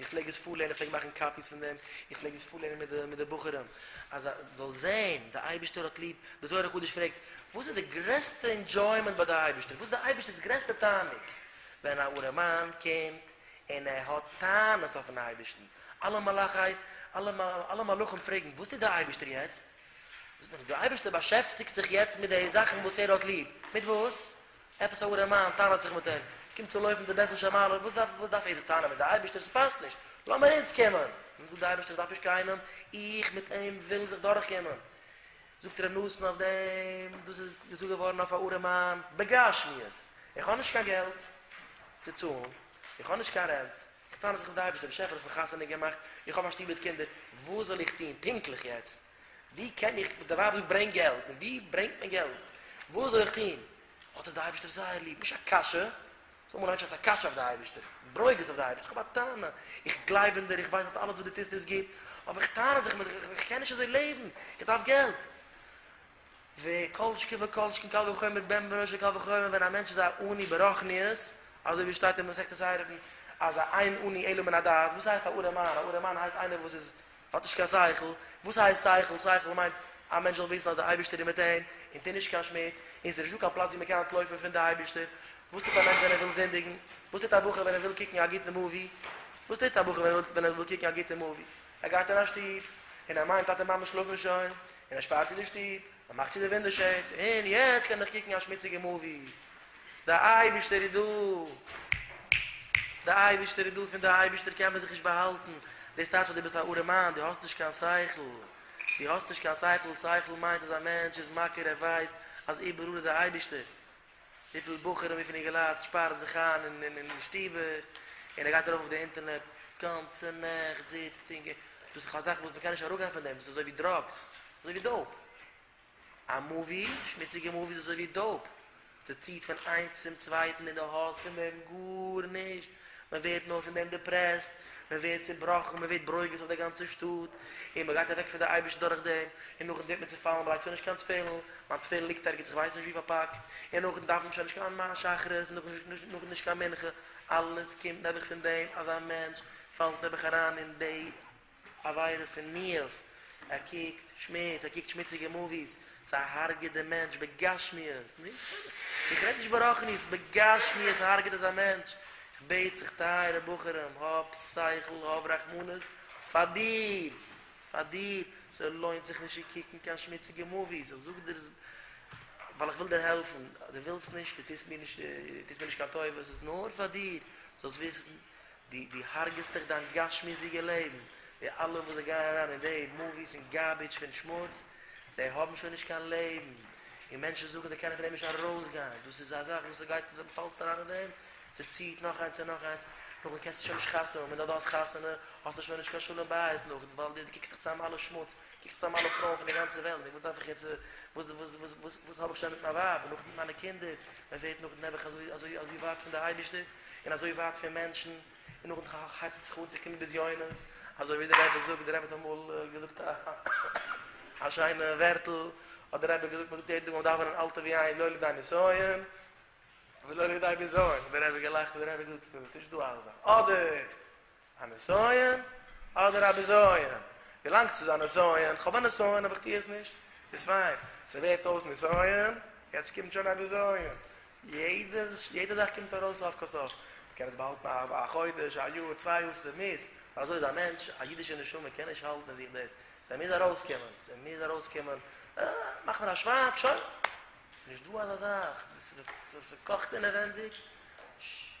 איך פלעג עס פארלערנען, איך פלעג מאכן קאפיס פון דעם, איך פלעג עס פארלערנען מיט די מיט די בחורים, אז א זאל זען, די אייבערשטער האט ליב, די זוהר הקדוש פרעגט, וואס איז די גרעסטע אינדזשוימענט ביי די אייבערשטער, וואס איז די אייבערשטער'ס גרעסטע תענוג, ווען א ארעמאן קומט און ער האט טענות אויפן אייבערשטן, אלע מלאכי, אלע מלאכים פרעגן, וואס טוט די אייבערשטער יעצט? זאגט מען, די אייבערשטער באשעפטיגט זיך יעצט מיט די זאכן וואס ער האט ליב, מיט וואס? עפעס א ארעמאן טענה'ט זיך מיט אים, קומט צו לויפן די בעסער שמערל, וואס דארף וואס דארף עזר טענה'ן מיט די אייבערשטער, ס'פאסט נישט, לאמיר אונז קומען, און זאגט די אייבערשטער איך דארף נישט קיינעם, איך מיט אים ווילן זיך דורך קומען, זאגט ר' נתן אויף דעם, דאס איז געזאגט געווארן אויף א ארעמאן בגשמיות, איך האב נישט קיין געלט צו צאלן, איך האב נישט קיין רענט, איך טענה זיך מיט די אייבערשטער, באשעפער האסט מיך חתונה געמאכט, איך האב א שטוב מיט קינדער, וואס זאל איך טון פונקטליך יעצט? ווי קען איך די ווייב זאגט ברענג געלט, און ווי ברענגט מען געלט, וואס זאל איך טון, האט עס די אייבערשטער זייער ליב, נישט א קשיא, זאג מאל א מענטש האט א קשיא אויף די אייבערשטער, ברוגז אויף די אייבערשטער, איך האב א טענה, איך גלייב אין דיר, איך ווייס אז אלעס וואס דו טוסט איז גוט, אבער איך טענה זיך מיט דיך, איך קען נישט אזוי לעבן, איך דארף געלט. וכל שכן וכל שכן קל וחומר בן בנו של קל וחומר ווען א מענטש איז א עני ברחניות, אזוי ווי עס שטייט אין מסכת עירובין אז א אין עני עלו מן הדעת, וואס הייסט א ארעמאן, א ארעמאן הייסט איינער וואס איז האט נישט קיין שכל, וואס הייסט שכל? שכל מיינט א מענטש זאל וויסן אז די אייבישטער איז מיט אים, און טו נישט קיין שמוץ, און עס איז נישטא קיין פלאץ ווי מען קען אנטלויפן פון די אייבישטער, וואס טוט א מענטש ווען ער וויל זינדיגן? וואס טוט א בחור ווען ער וויל קוקן א גוטן מאווי? וואס טוט א בחור ווען ער וויל קוקן א גוטן מאווי? ער גייט אין א שטוב, און ער מיינט טאטע מאמע שלאפן שוין, און ער שפארט צו די שטוב, מען מאכט צו די ווינדא שעידס און יעצט קען איך קוקן א שמוציגע מאווי, די אייבערשטער איז דא, די אייבערשטער איז דא, פון די אייבערשטער קען מען זיך נישט באהאלטן, דאס טייטש אז דו ביסט א ארעמאן, דו האסט נישט קיין שכל, דו האסט נישט קיין שכל, שכל מיינט אז א מענטש איז מכיר ער ווייסט אז איבעראל איז די אייבערשטער, וויפיל בחורים ווי פון איר געלייט שפארן זיך איין אין אין אין שטיבער און ער גייט ארויף אויף די אינטערנעט גאנצע נעכט זיצט און געט דאס איז דאך א זאך וואס מ'קען נישט אראפגיין פון דעם דאס איז אזוי ווי דראגס אזוי ווי דאופ א מאווי שמוציגע מאווי איז אזוי ווי דאופ ס'ציט פון איינס צום צווייטן און די האסט פון דעם גארנישט מען ווערט נאר פון דעם דעפרעסט, מען ווערט צעבראכן, מען ווערט ברוגז אויף דער גאנצער שטאט, און מען גייט אוועק פון דער אייבערשטן דורך דעם, און נאכדעם טוט מען צופאלן, מען לייגט שוין נישט קיין תפילין, מיין תפילין ליגט ערגעץ איך ווייס נישט ווי פארפאקט, און נאכדעם דארף מען שוין נישט קיין שחרית, נאכדעם נישט קיין מנחה, אלעס קומט נעבעך פון דעם אז א מענטש פאלט נעבעך אריין אין די. עבירה פון ניאוף, ער קוקט שמוץ, ער קוקט שמוציגע מאוויס, ס'איז הרג'ט די מענטש בגשמיות, נישט בסדר, איך רעד נישט ברחניות, בגשמיות הרג'ט עס א מענטש, איך בעט זיך טייערע בחורים, האב שכל, האב רחמנות, פאר דיר, פאר דיר, ס'לוינט זיך נישט צו קוקן קיין שמוציגע מאוויס, איך זאג דיר עס ווייל איך וויל דיר העלפן, דו ווילסט נישט, דו טוסט מיר נישט, דו טוסט מיר נישט קיין טובה, ס'איז נאר פאר דיר, זאלסט וויסן, די די הרג'סט דיך דיין גשמיות'דיגע לעבן, די אלע וואס זיי גייען אריין אין די מאוויס און גארבידזש פון שמוץ, זיי האבן שוין נישט קיין לעבן, און מענטשן זאגן זיי קענען פון דעם נישט ארויסגיין, דאס איז א זאך וואס ס'גייט און דו פאלסט אריין אין דעם, ס'ציעט נאך איינס און נאך איינס, נאכדעם קענסטו שוין נישט חתונה האבן, און אויב דו האסט חתונה האסטו שוין נישט קיין שלום בית נאכדעם, ווייל דו קוקסט דיך צוזאם מיט אלע שמוץ, קוקסט אן אלע פרויען פון די גאנצע וועלט, נו וואס דארף איך יעצט, וואס וואס וואס וואס וואס האב איך שוין מיט מיין ווייב, און נאכדעם מיט מיינע קינדער, מען ווערט נאכדעם נעבעך אזוי אזוי אזוי ווייט פון די אייבערשטער, און אזוי ווייט פון מענטשן, און נאכדעם ח ח הייבט מען זיך אן צו קומען בזיונות, אזוי ווי דער רבי זאגט, דער רבי האט אמאל געזאגט א שיינע ווערטל, האט דער רבי געזאגט, מען זאגט יעדן טאג ביים דאווענען אל תביא עין לא לידי נסיון, ולא לידי בזיון, האט דער רבי געלאכט, האט דער רבי געזאגט, ס'איז נישטא אזא זאך, אדער. א נסיון אדער א בזיון? ווילאנג ס'איז א נסיון, כ'האב א נסיון אבער כ'טוה עס נישט, איז פיין. ס'ווערט אויס נסיון, יעצט קומט שוין א בזיון. יעדע יעדע זאך קומט ארויס סוף כל סוף. מ'קען עס באהאלטן א א חודש, א יאר, צוויי יאר, ס'איז מיז. ווייל אזוי איז א מענטש, א אידישע נשמה קען נישט האלטן אין זיך דאס. ס'מיז ארויסקומען. ס'מיז ארויסקומען. אה, מאך מיר א שווייג, שוין. ס'נישט דא אזא זאך. ס'קאכט אינעווענדיג. ש.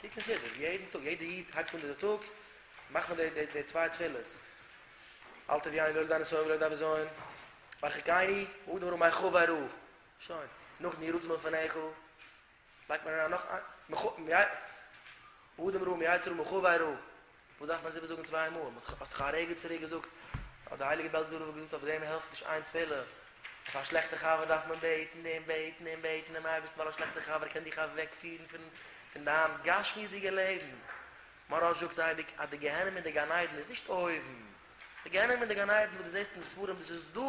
קוק אין סידור, יעדן טאג, יעדע איד הייבט אן די טאג, מאכט מען די די צוויי תפילות, אל תביא עין ולא ידע נשאי ולא ידע בזיון, מרחיקני ה' דברו מאי חב ארא, שוין, נאכן יהי רצון מלפניך, לייגט מען אריין נאך איין, ה' דברו מאי צרו מאי חב ארא. וואס דארף מען עס איבערזאגן צוויי מאל? האסט דאך א רגע צוריק געזאגט אז די הייליגע בעלזא רב האט געזאגט אויף דעם העלפט נישט איין תפלה, אויף א שלעכטע חבר דארף מען בעטן און בעטן און בעטן דעם אייבערשטן ווייל א שלעכטע חבר קען דיך אוועקפירן פון פון דיין גשמיות'דיגע לעבן. מוהרא ש זאגט אייביג אז די גיהנום און די גן עדן איז נישט אויבן. די גיהנום און די גן עדן וואס דו זעסט אין די ספרים דאס איז דא,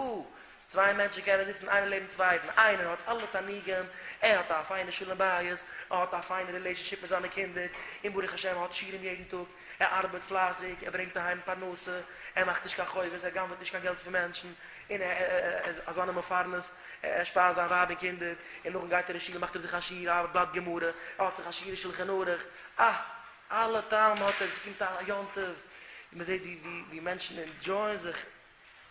צוויי מענטשן קענען זיצן איינער לעבן צווייטן, איינער האט אלע תענוגים, ער האט א פיינע שלום בית, ער האט א פיינע רילעישאנשיפ מיט זיינע קינדער, און ברוך השם ער האט שיעורים יעדן טאג, ער ארבעט פלייסיג, ער ברענגט אהיים פרנסה, ער מאכט נישט קיין חובות, ער גנב'עט נישט קיין געלט פון מענטשן, און ער איז א זאנע מפרנס, ער שפייזט זיין ווייב און קינדער, און נאכדעם גייט ער אין שול און מאכט אויף זיך א שיעור א בלאט גמרא, ער האט זיך א שיעור אין שלחן ערוך, אה! אלע טעם האט עס, ס'קומט א יום טוב און מען זעט ווי מענטשן ענדזשויען זיך,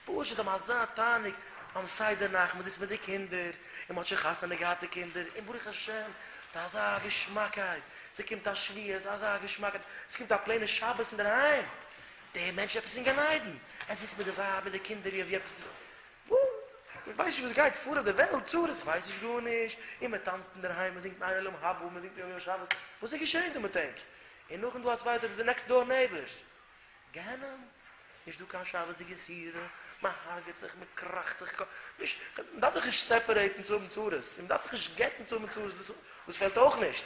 פשוט האבן אזא תענוג ביים סדר נאכט, מען זיצט מיט די קינדער און מען האט שוין חתונה געהאט די קינדער און ברוך השם ס'איז אזא געשמאקייט, ס'קומט א שבועות אזא געשמאקייט, ס'קומט א פלעינע שבת אינדערהיים, דער מענטש איז עפעס אין גן עדן, ער זיצט מיט די ווייב מיט די קינדער ווי עפעס איך ווייס נישט וואס גייט פאר אויף די וועלט, צרות, איך ווייס נישט גארנישט, און מען טאנצט אינדערהיים, מען זינגט ניין עולם הבא, מען זינגט יום יום שבת, וואס איז געשען דא מיט ענק? און נאכדעם דא א צווייטער, דאס איז נעקסט דאר נעיבער. גיהנום, נישט דא קיין שבת'דיגע סעודה, מען הרג'עט זיך, מען קראכט זיך, נישט, מען דארף זיך נישט סעפערעיטן צו האבן צרות, און מען דארף זיך נישט גט'ן צו האבן צרות, דאס פעלט אויך נישט,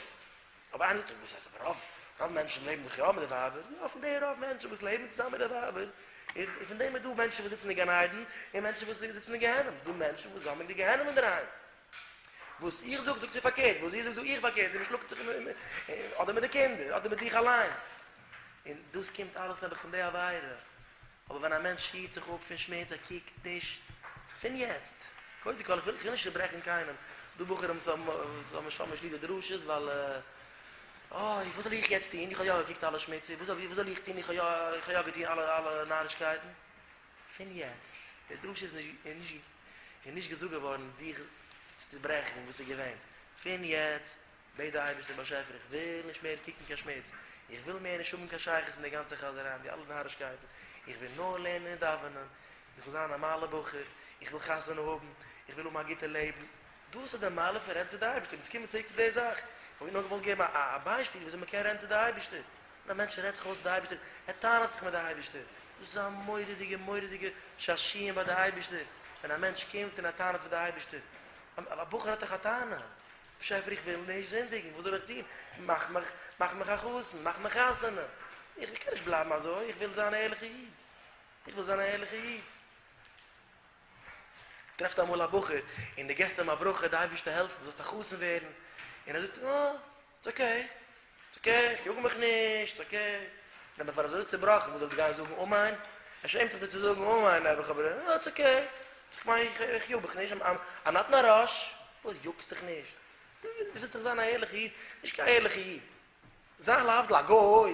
אבער איינער טוט וואס אז רוב רוב מענטשן לעבן דאך יא מיט די ווייבער, יא פון די רוב מענטשן וואס לעבן צוזאמען מיט די ווייבער, איז פון דעם איז דא מענטשן וואס זיצן אין גן עדן, און מענטשן וואס זיצן אין גיהנום, איז דא מענטשן וואס האבן די גיהנום אינדערהיים. וואס איך זאג זאגט זי פארקערט, וואס זי זאגט זאג איך פארקערט, און מען שלאגט זיך אדער מיט די קינדער אדער מיט זיך אליינס, און דאס קומט אלעס נעבעך פון די עבירה. אבער ווען א מענטש היט זיך אפ פון שמוץ, ער קוקט נישט פון יעצט, קודם כל איך וויל נישט צוברעכן קיינעם, ס'דא בחורים וואס האבן שוין נישט ליב די דרשות ווייל אוי וואס זאל איך יעצט טון, איך האב יא געקוקט אלע שמוצער, וואס זאל איך טון, איך האב יא געטון אלע נארישקייטן, פון יעצט, די דרשה איז נישט געזאגט געווארן דיך צו צוברעכן וואס איז געווען, פון יעצט בעט די אייבערשטער באשעפער איך וויל נישט מער קוקן קיין שמוץ, איך וויל מער נישט האבן קיין שייכות מיט די גאנצע חזעריי און די אלע נארישקייטן, איך וויל נאר לערנען און דאווענען, איך וויל זיין א נארמאלער בחור, איך וויל חתונה האבן, איך וויל האבן א גוטע לעבן, דאס איז די מעלה פון רעדן צו די אייבערשטער, אונז קומען צוריק צו די זאך, איך האב איר נאר געוואלט געבן א א ביישפיל ווי אזוי מען קען רעדן צו די אייבערשטער, ווען א מענטש רעדט זיך אויס צו די אייבערשטער, ער טענה'ט זיך מיט די אייבערשטער, דאס איז א מורא'דיגע מורא'דיגע שעשיען ביי די אייבערשטער, ווען א מענטש קומט און ער טענה'ט פאר די אייבערשטער, א בחור האט דאך א טענה, באשעפער איך וויל נישט זינדיגן, וואס זאל איך טון? מאך מיך, מאך מיך א חתן, מאך מיך חתונה, איך קען נישט בלייבן אזוי, איך וויל זיין א ערליכע איד, איך וויל זיין א ערליכע איד. טרעפסט אמאל א בחור און די געסט אים א ברכה די אייבערשטער העלף מיר זאלסט א חתן ווערן, און ער זאגט אה, איטס אקעי, איטס אקעי, איך יאג מיך נישט, איטס אקעי. נאר פאר אזוי צובראכן, וואס זאל איך גיין זאגן אמן? ער שעמט זיך דיר צו זאגן אמן, האב איך אבער אים, איטס אקעי, איך מיין, איך יאג מיך נישט, איים נאט אין א ראש. וואס יאגסט דיך נישט? דו ווילסט דאך זיין א ערליכע איד? נישט קיין ערליכע איד. זיין להבדיל א גוי.